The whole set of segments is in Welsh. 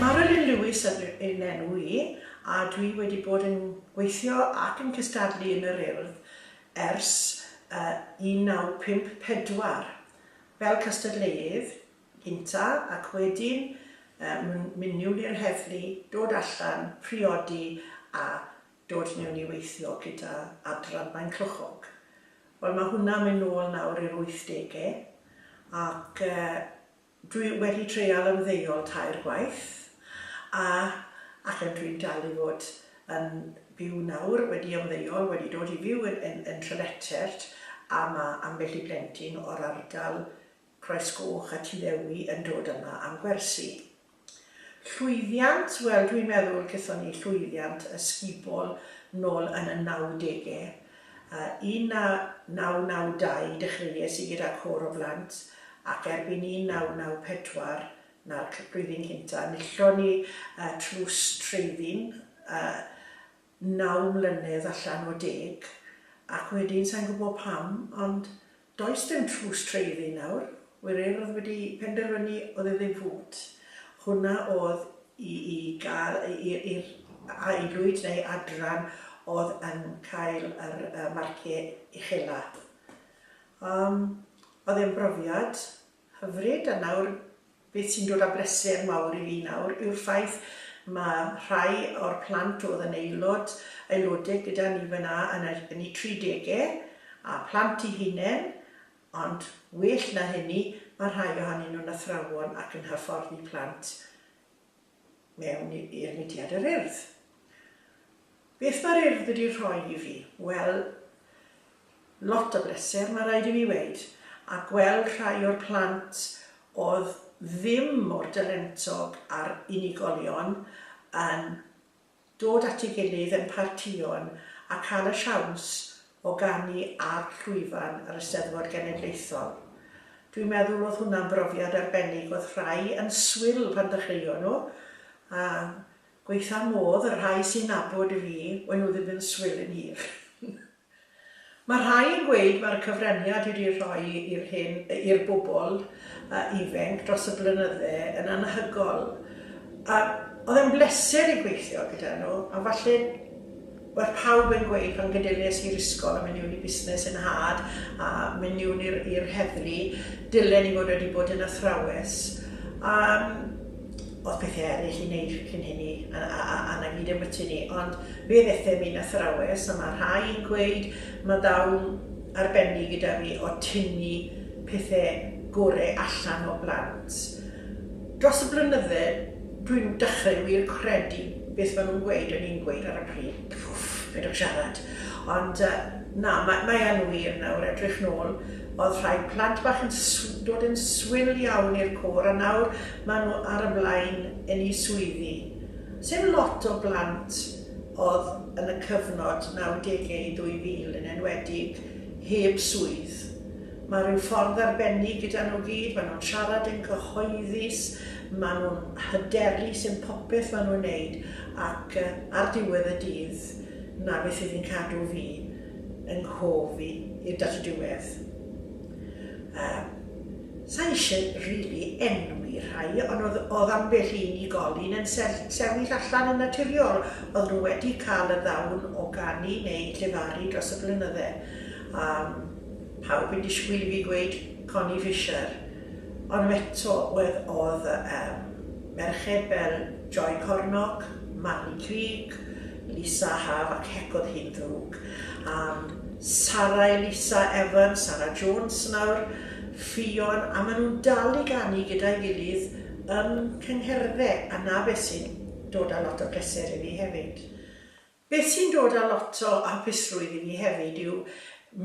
Marilyn Lewis yw fy enw i a dwi wedi bod yn gweithio ac yn cystadlu yn yr Urdd ers 1954 fel cystadleuydd gyntaf ac wedyn mynd miwn i'r heddlu, dod allan, priodi a dod miwn i weithio gyda Adran Maenclochog. Wel mae hwnna'n mynd nôl nawr i'r wythdegau ac Dwi wedi treial ymddeol tair gwaith a allen dwi'n dal i fod yn byw nawr, wedi ymddeol, wedi dod i fyw yn Trelechert a ma' ambell i blentyn o'r ardal Croesgoch a Tuddewi yn dod yma am gwersi. Llwyddiant, wel dwi'n meddwl gethon ni llwyddiant ysgubol nôl yn y nawdege 1992 dechreuais i gyda côr o blant ac erbyn 1994, 'na'r blwyddyn cynta', enillon ni y tlws treifin yy naw mlynedd allan o deg ac wedyn sai'n gwbo pam ond Does dim tlws treiddi nawr, wir Urdd wedi penderfynu oedd e ddim fut. Hwnna oedd i i gael i'r i'r a'i lwyd neu adran oedd yn cael yr yy marciau uchela. Yym oedd e'n brofiad. Hyfryd, a nawr, beth sy'n dod â bryser mawr i fi nawr yw'r ffaith mae rhai o'r plant oedd yn aelod, aelodau gyda ni fan'na yn y, yn eu tri degau, a plant eu hunain, ond well na hynny, mae rhai ohonyn nhw'n athrawon ac yn hyfforddi plant. mewn i'r mudiad yr Urdd. Beth mae'r Urdd wedi rhoi i fi? Wel, lot o bleser, mae rhaid i mi weud, a gweld rhai o'r plant oedd ddim mor dalentog a'r unigolion yn dod at ei gilydd yn partïon a cael y siawns o ganu ar llwyfan yr Eisteddfod Genedlaethol. Dwi'n meddwl oedd hwnna'n brofiad arbennig, oedd rhai yn swil pan ddechreuon nhw, a gwaetha' modd y rhai sy'n nabod fi, we' nhw ddim yn swil yn hir. Mae rhai yn gweud mae'r cyfraniad wedi rhoi i'r hyn i'r bobl ifainc dros y blynydde yn anhygoel a oedd e'n bleser i gweithio gyda nhw a falle oedd pawb yn gweud pan gydelies i'r ysgol a mynd miwn i busnes yn nhad a mynd miwn i'r i'r heddlu dylen i fod wedi bod yn athrawes a Oedd pethau eraill i wneud cyn hynny a 'na gyd ambyti ni, ond fe ddethum i'n athrawes a mae rhai yn gweud mae dawn arbennig gyda fi o tynnu pethau gore allan o blant. Dros y blynydde dwi'n dechrau wir credu beth maen nhw'n gweud o'n i'n gweud ar y pryd, pwff, peidiwch siarad. Ond na, mae yn wir nawr, edrych nôl, oedd rhai plant bach yn dod yn swil iawn i'r côr a nawr Mae nhw ar y blaen yn eu swyddi. Sdim lot o blant oedd yn y cyfnod nawdegau i 2000 yn enwedig heb swydd. Mae rhyw ffordd arbennig gyda nhw gyd, mae nhw'n siarad yn gyhoeddus, mae nhw'n hyderus yn popeth mae nhw'n wneud ac ar diwedd y dydd 'na beth fydd yn cadw fi yng nghof i i'r diwedd. Yym, sa i isie rili enwi rhai, ond o'dd o'dd ambell i unigolyn yn sell- sefyll allan yn naturiol, o'dd nhw wedi ca'l y ddawn o ganu neu llefaru dros y blynydde, a pawb yn disgwyl i fi gweud Connie Fisher, ond eto wedd o'dd yym merched fel Joy Cornock, Marnie Creek, Lisa Haf ac hec o'dd hi'n ddrwg. am Sara Elisa Evans, Sara Jones nawr, Ffion, a maen nhw'n dal i ganu gyda'i gilydd yn cyngherddau, a 'na beth sy'n dod â lot o bleser i fi hefyd. Beth sy'n dod â lot o hapusrwydd i fi hefyd yw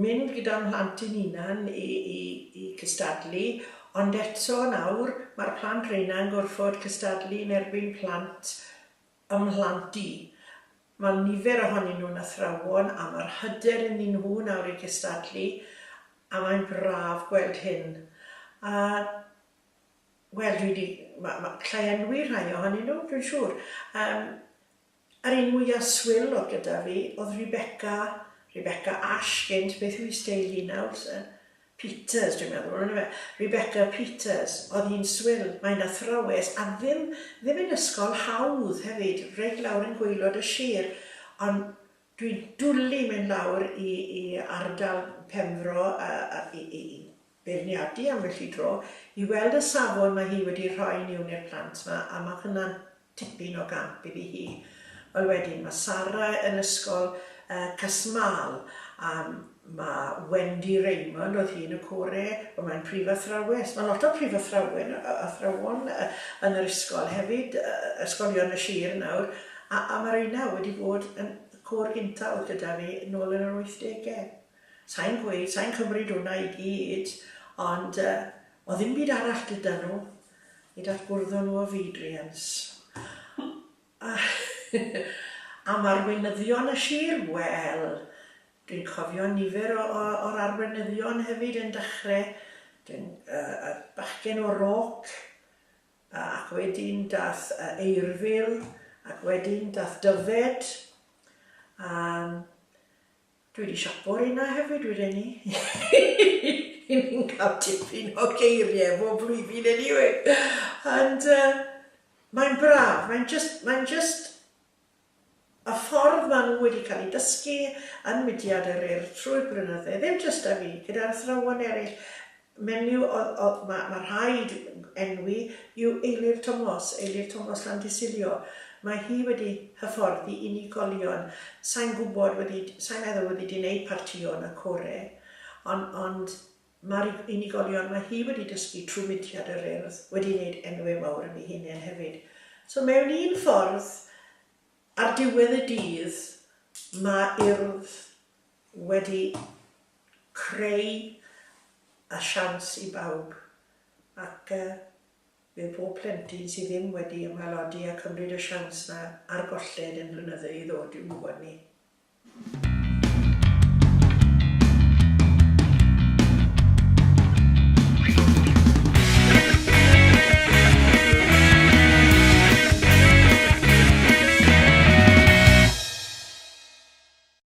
mynd gyda'n mhlant i'n hunan i i i cystadlu, ond eto nawr, mae'r plant reina'n gorfod cystadlu yn erbyn plant ym mhlant i. Mae nifer ohonyn nhw'n athrawon a mae'r hyder ynddyn nhw nawr i gystadlu a mae'n braf gweld hyn. A, wel, dwi 'di... ma- ma- galla i enwi rhai ohonyn nhw, dwi'n siŵr. Yym, yr un mwya' swil oedd gyda fi oedd Rebecca, Rebecca Ash gynt, beth yw 'i steil hi nawr? Peters, dwi'n meddwl, on'd yfe? Rebecca Peters, o'dd hi'n swil, mae'n athrawes, a ddim, ddim yn ysgol hawdd hefyd, reit lawr yn gwaelod y sir, ond dwi'n dwli mynd lawr i i ardal Penfro a a i i i beirniadu ambell i dro, i weld y safon ma' hi wedi rhoi miwn i'r plant ma, a ma' hwnna'n Tipyn o gamp iddi hi. Wel wedyn ma' Sara yn ysgol yy Casmâl a ma' Wendy Raymond o'dd hi yn y core wel mae'n prif athrawes. Ma' lot o prif athrawen yy yy athrawon yy yn yr ysgol hefyd yy yy ysgolion y sir nawr a a ma' reina wedi bod yn y côr gynta o'dd gyda fi nôl yn yr wythdege. Sai'n gweud sai'n cymryd hwnna i gyd ond yy o'dd ddim byd arall gyda nhw. i ddatbwrddo nhw o fyd-riens. A am arweinyddion y sir, wel, dwi'n cofio nifer o, o, o'r arweinyddion hefyd yn dechrau, dwi'n, uh, y bachgen o Roc, ac wedyn dath uh, Eirfil, ac wedyn dath Dyfed, a Dwi di siapo'r un 'na hefyd wedyn 'ny. Y'n ni'n cael tipyn o geirie bob blwyddyn eniwe. Ond yy mae'n braf, mae'n jyst, mae'n jyst y ffordd ma' nhw wedi cael eu dysgu yn mudiad yr Urdd trwy'r blynydde, ddim jyst 'da fi, gyda'r athrawon eryll, Menyw oedd, mae ma rhaid enwi, yw Eilir Tomos, Eilir Tomos Llandysilio. Mae hi wedi hyfforddi unigolion. Sa i'n gwybod wedi, sa i'n meddwl wedi di wneud partïon a core, ond ond ma'r unigolion mae hi wedi dysgu trwy mudiad yr Urdd wedi wneud enwe mawr am ei hunen hefyd. So mewn un ffordd, ar diwedd y dydd, mae Urdd wedi Creu y siawns i bawb ac bydd pob plentyn sydd ddim wedi ymaelodi a cymryd y siawns 'na ar golled yn blynyddu i ddod i'w ngwybod ni.